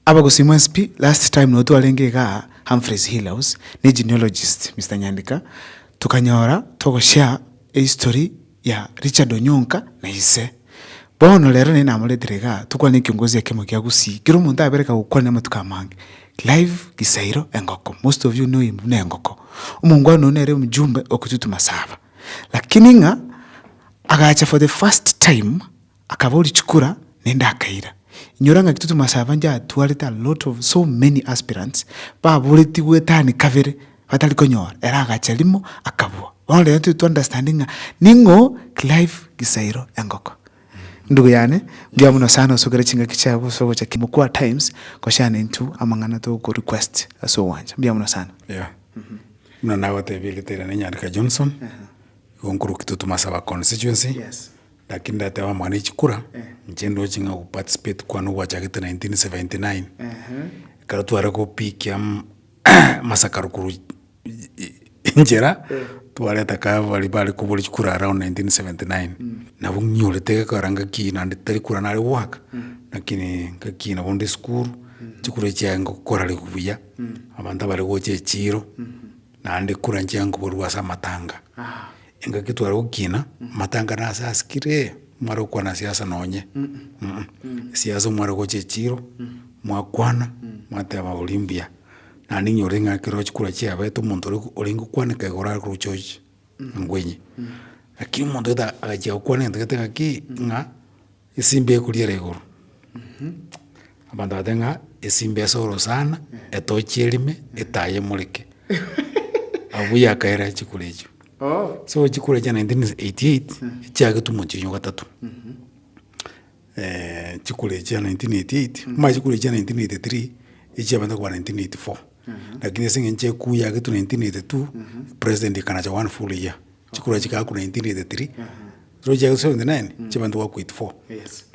Abagosimu mcp last time nabo twarenge igaa Humphreys Hill House ne genealogist Mister Nyandika tokanyora togo share ehistory ya Richard Onyonka na ise. Bono rero naye namoretire igaa tokwane ekiongozi ekemo gia Gusii kera omonto abereka gokwana amatuko amange. Clive Gisairo engoko most of you know him buna engoko. Omongwana oyio nere omjumbe o Kitutu Masaba. Lakini ng'a agacha for the first time Akaboria chikura nende akaira. Inyora ngaki totoma ase abange atwarete a lot of so many aspirants baboreti gwetani kabere batari konyora ere agacha rimo akabua bono rero tiri to understand ng'a ning'o Clive Gisairo Engoko. Ndugu yane mbuya muno sana osokere chingaki chiago gose ogocha moku at times goshare naintwe amang'ana togo request ase ogwancha mbuya muno sana. Yeah. Buna nagotebie ritera ne Nyarika Johnson. Igo nkoroki totoma ase aba constituency. Yes. Naki ndateba amang'ana e chikura, inche ndoche ng'a ogoparticipate kwane ogwachagete 1979, ekero tware gopikia mm amasakaro korwa enchera, twareta kae baria bare kobori chikura around 1979, nabo ng'inyurete gekogera ngaki naende tari kura nare goaka, lakini ngaki nabo nde esukuru, chikura echiaye ngokora ribu buya, abanto bare gocha echiro. Naende kura nchianga koborua ase amatanga, engaki tware gokina, amatanga nase asikire, mware gokwana siasa nonye, siasa mware gocha echiro, mwakwana, mwateba oria mbuya, naende inyore ng'a ekero ochi kura chiabete omonto oria orenge gokwaneka iga orare koroche ochi engwenyi. Lakini omonto gete agachia gokwana egento gete ng'aki ng'a. Esimba ekoriera igoro. Abanto bagateba ng'a esimba esoro sana, etochi erime, etaai emoreke. Abwo yakaira chikura echio. So chikura chia nineteen eighty eight, chia getumo chiaino gatato. chikura echio chia nineteen eighty eight, mara chikura echio chia nineteen eighty three, echia abanto bakoba nineteen eighty four. Lakini ase eng'encho ekuu yagetwe nineteen eighty two, president akanacha one full year. Chikorwa chigaakwa 1983, erochi chiaye 79 chiaba ntoba goakwa 84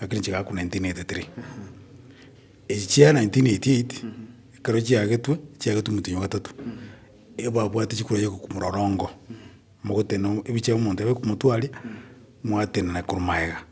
lakini chigaakwa 1983. Echi chia 1988 ekero chiagetwe, chiagetwe omonto onya o gatato, ebabwate chikorwa chia gokumura orongo, mogotenena ebicha omonto abe komotwaria, mwatenena korwa magega.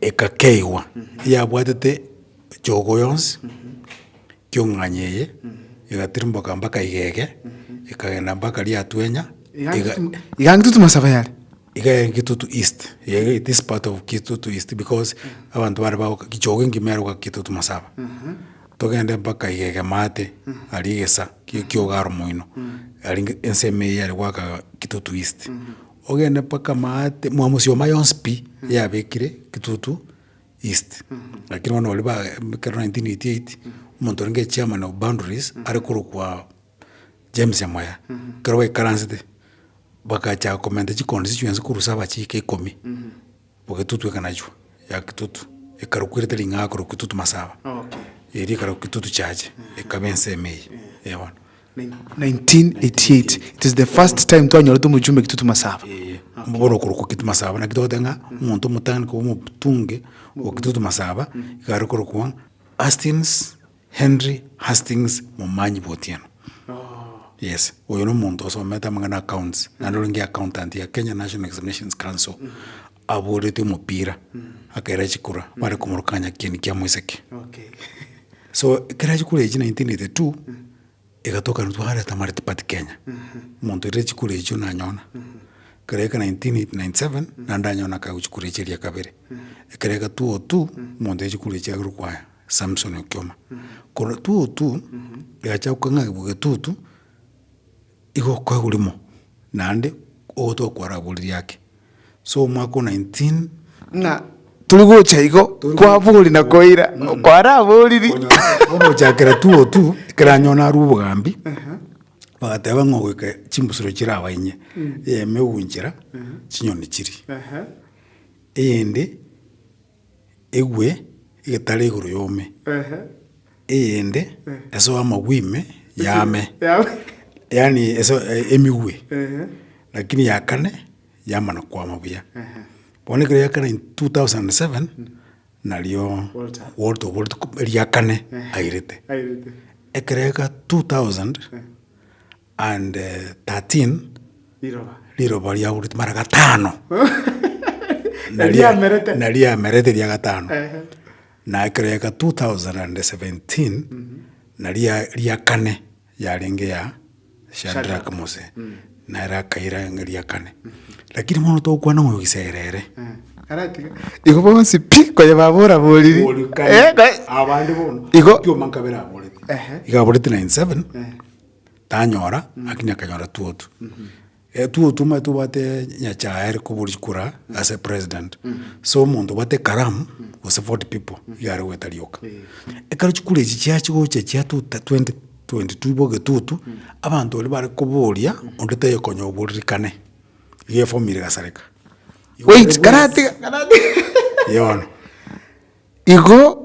Egakeigwa eyabwatete choogo yonsi kiong'anya eye, egatirimboka mpaka igege, ekagenda mpaka Riatwenya, iga Iga ng'itutu masabe yare. iga ere Kitutu East, eye this part of Kitutu East because abanto bare bagoka choogo engima ere goka Kitutu Masaba. Togende mpaka igege maate, aria egesa kia ekiogaro moino, aria ensemo eye yare goaka Kitutu East. Ogende mpaka Maate, mwamosioma yonsi pi yabekire Kitutu East, lakini bono baria ba ekero 1988, omonto orenge chairman of boundaries are korokwa James Amoya, ekero baikaransete, bagacha komenta chiconstituency korwa saba chiika ikomi. Ogetutu ekanachwa yakitutu ekarokwa erita ring'aa korwa kitutu masaba eria ekarokwa kitutu chache ekaba ensemo eye eh bono. 1988 it is the first time twanyorete omochumbe kitutu masaba Eye mbu bono okorokwa kitutu masaba naki togoteba ng'a omonto omotang'ani koba omotunge okitutu masaba iga arokorokwa Hastings Henry Hastings momanyi bw'otieno. Yes, oyo nomonto osomete amang'ana accounts, naende orenge accountant ya Kenya National Examinations Council. Aboretie omopira, akaira chikura, bare komoroka ng'a nyakieni kia moiseke. So ekero chikura echio 1982, egatoka intwe twareta Multi Party Kenya, omonto oirire chikura echio nanyona. Ekero eke 1997, naende nanyona akaegwa chikura echio eria kabere. Ekero eke 2002, omonto oirire chikura echio agerwa kwaya. Samson okioma, korwa tutu egacha gokeng'agigwa getutu, igo okoegurwa mo, naende ogotoka kwaraboririe ake. So omwaka o nineteen. Ng'a tori gocha igo kwaboria na koira kwaraboririe. Bono gochakera tutu, ekero anyora narwa obogambi, bagateba ng'a ogoika chimbusuro chire aba inye, eyemo egunchera chinyoni chiria, eyende. egwe egetare igoro y'ome, eyende esoe amagwe ime y'ame, yaani esoe emigwe, lakini ya kane yamana kwama buya. Bono ekero ya kane in two thousand and seven, nario Walter oboreti ria kane airete. Ekero ega two thousand And thirteen riroba riaurete mara gatano na ria- Eriamerete. na riamerete ria gatano Ehe. na ekero yaika 2017 na ria ria kane yarenge ya Shadrack Mose nere akaira ng'a ria kane lakini bono togokwana ng'a oyo gisegere ere Aratiga. Igo bonsi pi konya babora boriri. Eh, ka- abande bono Igo- otioma nkabere aborete Ehe. iga aborete 97 tanyora lakini akanyora two otu. Two otu omanyete obwate nyachae are koba ore kura ase president. So omonto obwate ekaramu gose forty people igo are goeta rioka. Ekero chikura echi chiachi gocha chia two ta twenty twenty two igo egetutu abanto baria bare koboria onde taiyo konya oboririkane igo eform ire egasareka. Wait karatige karatige yono igo.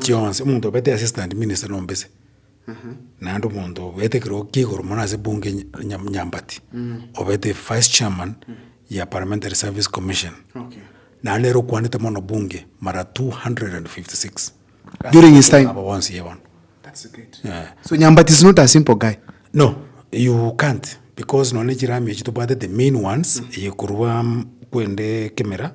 chionsi, omonto obete assistant minister na ombese, naende omonto obete ekero kia igoro mono ase ebunge nyambati, obete vice chairman ya parliamentary service commission, naende nere okwanete mono bunge mara two hundred and fifty six during his time, abo bonsi iga bono, so nyambati is not a simple guy, no you can't because nonye ne chirami echi tobwatete main ones eye korwa kwende kemera.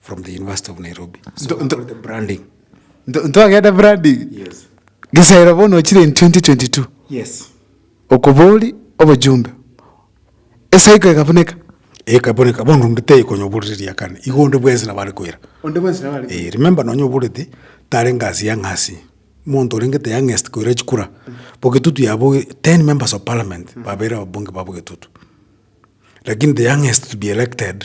From the University of Nairobi. So Ndo- ndo- the branding. Nto- ntwagenda branding Yes. gisera bono ochire in 2022 Yes. okobori obojumbe esaiko ekabuneka Ekaboneka bono ndete ikonyo buriria kane. Igonde bwensi na bari kwera. onde bwensi nabare Eh, remember nonyo buriti tare ngasi ya ng'asi. Monto renge te youngest koira chikura. Bogetutu yabo 10 members of parliament babere ababunge babo getutu. Lakini the youngest to be elected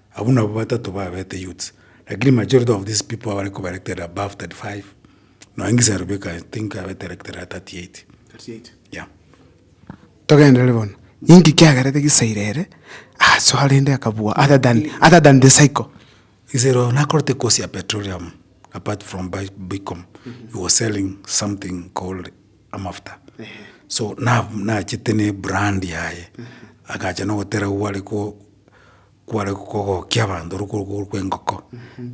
Abwo nabwo batato babete youths, lakini majority of these people abare koba elected above 35, nonya Ngiserubio iko I think abete elected at 38. Yeah. Togenderere bono, ninki kiagerete Gisaira ere asoa rende akabua other than, other than the cycle? Gisaira oyo nakorete course ya petroleum apart from by bicom, he was selling something called amafuta, so na nachete ne brand yaye, agacha nogotera abwo are ko. Kware kogokia abanto ore korwa igoro kw'engoko,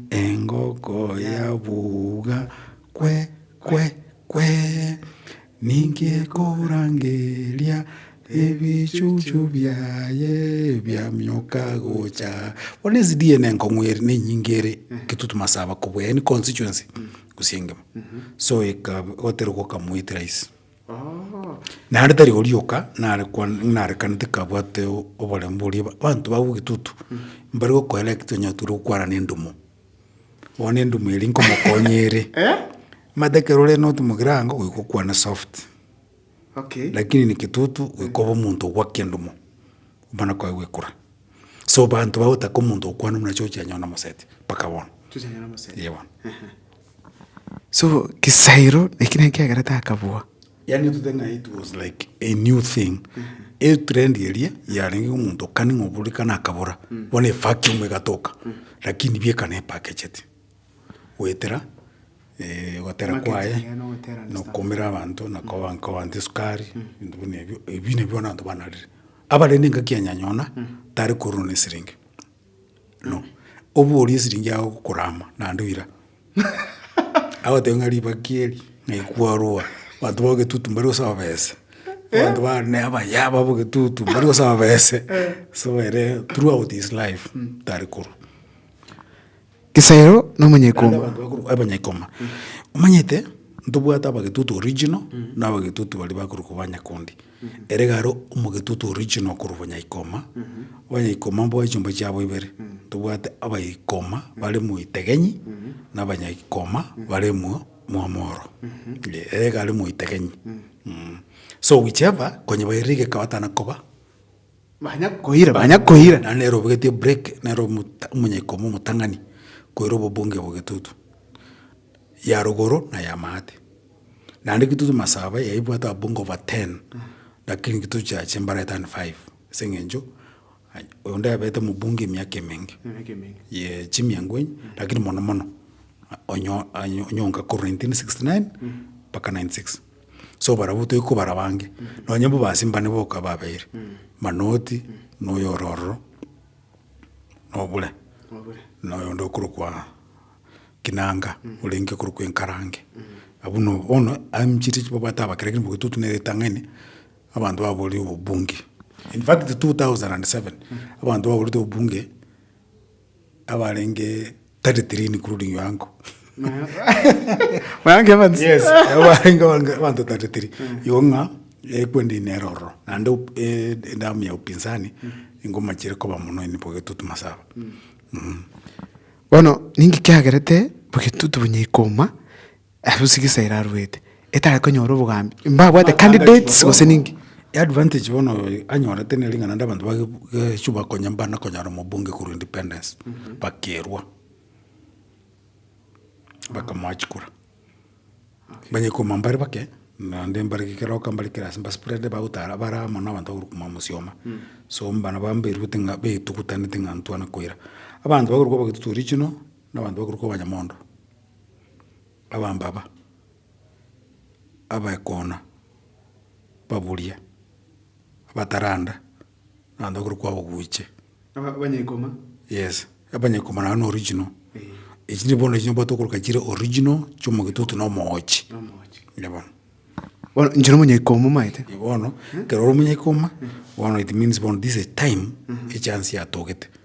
engoko yabuga kwe, kwe, kwee, ninki ekorangeria ebichuchu biaye biaminyoka gocha aa. Bono ezidiye ne enkong'u ere ne enyinge ere eketutu masaba kobua yaani constituency gose engima so eka otere gokamua it rahisi. Naende tari oria oka narekwane, narekanete kabwate oboremu boria ba- banto babo egitutu, mbare gokoera ekio tonya tore gokwana na endumo. Bono endumo eria nkomokonya ere, omanyete ekero ore not mogirango, goika okwane soft, lakini na egitutu goika obe omonto ogwaki endumo, okwana kwaye gwekora. So banto bagotaka omonto ogokwana buna chirochio chianyora na omosete, mpaka bono. Chirochio chianyora na omosete. Eye bono. So kisairo eki ne kiagera takabua. Yaani to the ng'a it was like a new thing e trend eria yarenge omonto kani ng'a oburikana akabora bono evacuum egatoka lakini bieka ne packaged goetera eh, ogotera Marketing kwaye yaye na ogotera na understand. okomera abanto na koba nkoba nte esukari ebinto buna ebio ebi nabio bono abanto banarire abarende engaki ya nyanyona tari korwa na esiringi. no, oborie esiringi yao okorama naende oira. Agotebia ng'a ribaki eri ng'ai kwaroa, abanto ba ogetutu mbari gosaba besa, abanto ba ne abayabo aba ogetutu mbari gosaba besa, so ere throughout his life tari korwa. Isayoro na omonyaikoma. Naende abanto bakorokwa abanyaikoma. Omanyete, ntobwate abagetutu original, na abagetutu baria bakorokwa banyakundi. Ere iga aro omogetutu original korwa bonyaikoma, abanyaikoma mboe chiomba chiabo ibere. Ntobwate abaikoma bare moitegenyi, na abanyaikoma bare mwa mwamoro. Eeh, ere iga are moitegenyi. So whichever, konye bairire egeka batana koba. Banya koira, banya koira, naende nere obogetie break, nere omota, omonyaikoma omotang'ani, koira obobunge bwa getutu, ya rogoro na ya maate. Naende getutu masaba yaye ebwate ababunge over ten, lakini getutu chiaye chimbara ete and five, ase eng'encho ai onde abete omobunge emiaka emenge, Emiaka emenge. ye chimiango enye, lakini mono mono, onyo onyo onyonga korwa nineteen sixty nine mpaka ninety six. So barabwo toigwe kobara abange, nonye mbwa ba Simba nigo boka babeire, Manoti na oyo ore ororo, na Obure, na oyonde okorokwa Kinanga, orenge okorokwa Enkarange. Abwo no bono anchire chibabwate abakera ekiagera mbugwe totwe na eritang'ani, abanto baborire obobunge. In fact two thousand and seven, abanto baborete obobunge. abarenge 33 including Yoango. Mayango Evans. Yes. Abarenge abange- abanto 33. Igo ng'a ekwende ine ere ororo. Naende op- eh, edamu ya upinzani ingomachire koba mono ine Bogetutu Masaba. Bono ninki kiagerete Bogetutu bonyekoma Ase sigisa eraruete, etare konyora obogambi mbabwate candidates gose ninki. Advantage bono anyorete ne ring'ana rinde abanto bage geswa bakonye mbana konyara omobunge korwa independence bakerwa bakamoa chikura banye koma mbare bake naende mbare keroka mbare kera ase mbaspread bagotara bare amo na abanto bagokora koma mosioma so mbana ba mberuete ng'a betugutanete ng'a ntwane koira abanto bagokora koba egitutu original na abanto bagokora koba abanyamondo. abambaba, abaekona, ababuria, abataranda, abanto bakuru kwaboguchia. Aba- abanyekoma. Yes, abanyekoma nabo n'original. Echi nigo bono echi nabwate okoroka chire original chia omogitutu na omoochi. Na omoochi. Eeh bono. Bono inche nomonyekoma omanyete. Eeh bono, ekero ore omonyekoma, bono it means bono this is time, echance yatogete.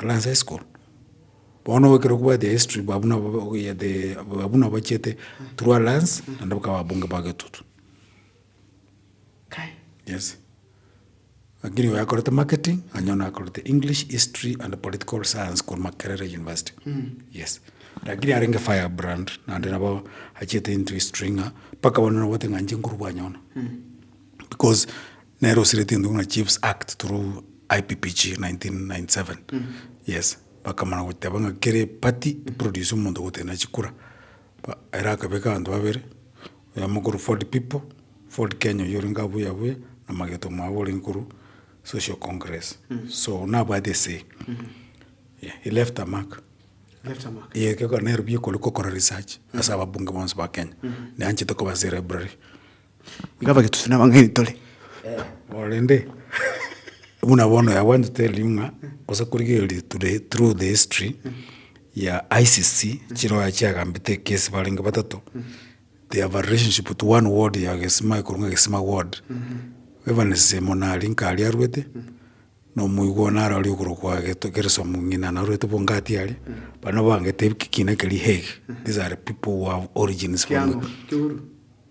Alliance high school, bono obo ekero kobwate history babo nabo ogoyete babo nabo bachete through alliance naende bakaba ababunge ba getoto. Yes, lakini oyo akorete marketing onye oyio akorete English, history and political science korwa Makerere University, yes. Lakini arenge fire brand naende nabo achiete into history ng'a mpaka bono nabwate ng'a inche nkorwa bwanyono because. Nere osireti gento buna chiefs act through IPPG 1997 yes bakamana goteba ng'a kere party eproduce omonto ogotenena chikura ba ere akabeka abanto babere oyomo okorwa Ford people Ford Kenya oyio orenge abu yabu ya na Mageto mwabo orenge korwa social congress so nabwate ese yeah he left a mark ye kegora nero bikore kokora research ase ababunge bonsi ba Kenya naye anchete koba ase library. Iga bagetose nabang'aini tore. Korende buna bono we are going to tell you ng'a gose korigereria to the through the history ya ICC chiroye chiagambete ekesi barenge batato they have a relationship to one ward ya gesima ekorwa ng'a gesima ward. Evans semonari nkare arwete na omoigwa one are aria okorokwa geto geresomu ng'ina narwete bongati aria baria nabo bangete kina keria Hague these are people who have origins from.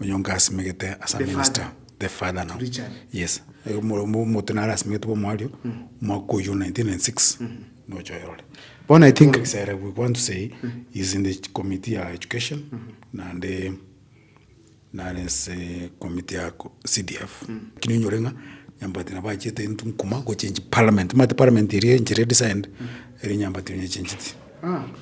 Onyonge asimegete as a minister, the father now, yes, omote nare asimegete bwa omoario, omwaka oyio 1996, nocha oyorore. Bono I think Kisere we want to say is in the committee ya education naende nare ase committee ya CDF. Lakini onyore ng'a Nyambati nabo achiete into nkuma gochange parliament, omanyete parliament eria enchera edesigned, eri Nyambati oyo oyechencheti.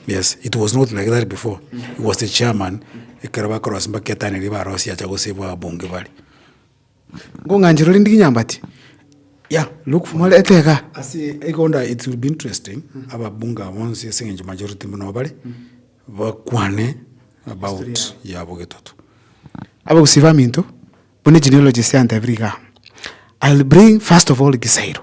Yes it was not like that before he was the chairman ekero bakoroa ase mpaka etano eria barosie acha gosave ababunge bare. Ngong'anche rore ndigi nyambati ya look for more ete iga. Ase egonda it will be interesting ababunge aba bonsi ase eng'encho majority muna nigo bare bakwane about yabo getoto. Aba gusii baminto buna genealogies yantebire igaa I'll bring first of all Gisairo.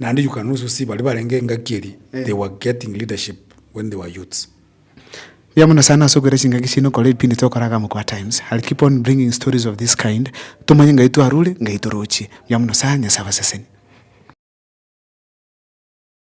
Naende you can also see baria barenge engaki eri they were getting leadership when they were youths. Mbuya mono sana ase okoira chingaki chiaino kore ebipindi togokora aka Mokoa Times. I'll keep on bringing stories of this kind tomanye ngai twarure, ngai torochie. Mbuya mono sana, Nyasae abasesenie.